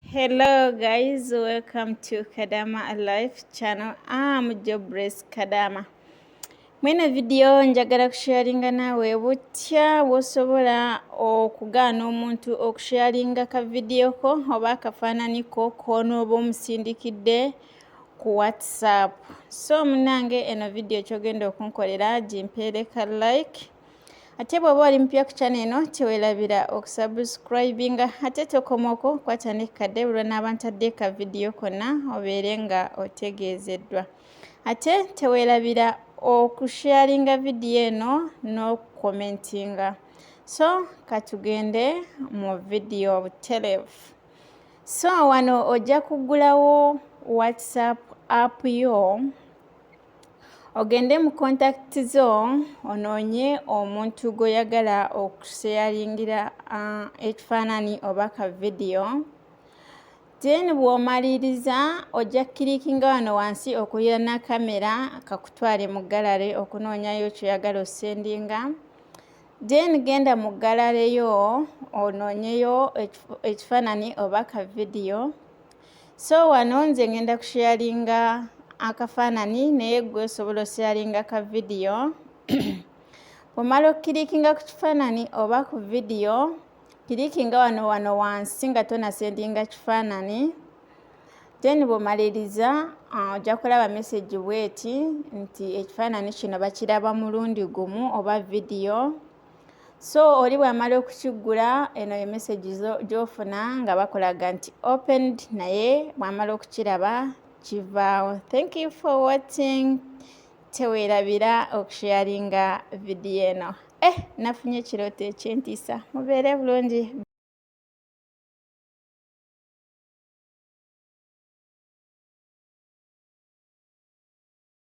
Hello guys, welcome to Kadama Life channel. I'm Jobless Kadama. Mwena video njagala kusharinga nawe butya wosobola okugaana omuntu okusharinga ka video ko oba akafaanani ko koonooba omusindikidde ku WhatsApp. So munange eno video kyogenda okunkolera gimpeereka like. ate bw'oba oli mupya ku kyana eno teweerabira okusubscribinga ate tokomoko kwata ne kadde bulwa n'abantadde ka vidiyo konna obeere nga otegeezeddwa ate teweerabira okusharinga vidiyo eno n'okukomentinga so katugende mu vidiyo butelevu so wano ojja kuggulawo whatsapp app yo ogende mu contact zo onoonye omuntu gw'oyagala okusheyaringira uh, ekifaanani oba ka vidiyo then bw'omaliriza ojja kukirikinga wano wansi okuyana kamera kakutwale mu galare okunoonyayo kyoyagala osendinga then genda mu galare yo onoonyeyo ekifaanani oba ka vidiyo so wano nze ngenda kusharinga akafaanani naye gwe osobola osharinga ka vidiyo omala okukirikinga ku kifaanani oba ku vidiyo kirikinga wano wano wansi nga tonasendinga kifaanani then bwomaliriza ah, ojja kulaba mesegi bweti nti ekifaanani kino bakiraba mulundi gumu oba vidiyo so oli bwamala okukiggula eno ye message gyofuna nga bakulaga nti opened naye bwamala okukiraba kivaawo thank you for watching teweerabira okusharinga vidiyo eno eh nafunye ekirooto ekyentiisa mubeere bulungi